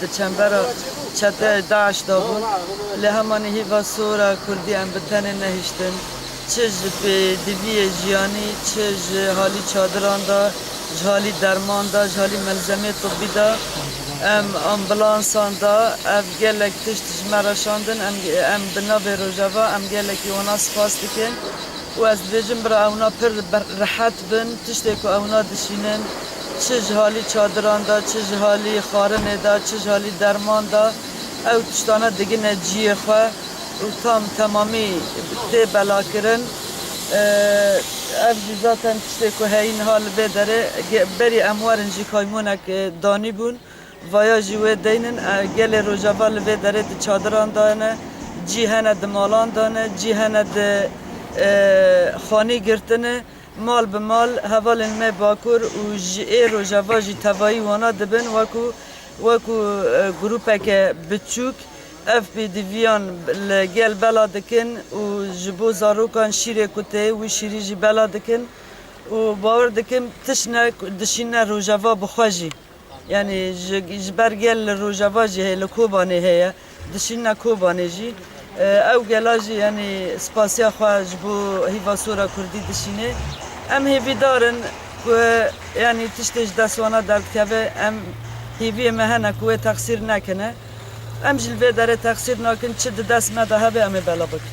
Di çembera çeteyê DAIŞ de bûn. Lê hemanî hîva sor e Kurdî em bi tenê nehiştin. Çi ji pêdiviyê jiyanî, çi ji halî çadiran de, ji halî derman de, ji halî melzemeyê tibbî de, em ambulansan de ev gelek tişt ji me re şandin. Em em bi navê Rojava em gelekî wana spas dikin û ez dibêjim bira ewna pir rehet bin tiştê ku ewna dişînin. Çi ji halî çadiran de, çi ji halî xwarinê de, çi ji halî derman de ew tiştane digine ciyê xwe û tam temamî tê belakirin. Ev jî zaten tiştê ku heyî niha li vê derê berî em werin jî kaymonek danîbûn. Vaya jî wê deynin gelê Rojava li vê derê di çadiran de ne, cî hene di malan de ne, cî hene di xanî girtine. Mal bi mal hevalên me Bakur û ji ê rojava jî tevayî wana dibin wekû wekû grûpeke biçûk ev pêdiviyan li gel bela dikin û ji bo zarokan şîrê ku tê wî şîrî jî bela dikin û bawer dikim tişt ne dişîne rojava bi xwe jî. Yanî ji ber gel li rojava jî heye, li Kobanê heye, dişînine Kobanê jî. Ew gela jî yanî spasiya xwe ji bo hîva sora kurdî dişînê. Em hêvîdar in ku yanî tiştê ji dest wana derdikeve, em hêviyê me hene ku wê texsîr nekine. Em jî li vê derê texsîr nakin, çi di dest me de hebe em ê belav bikin.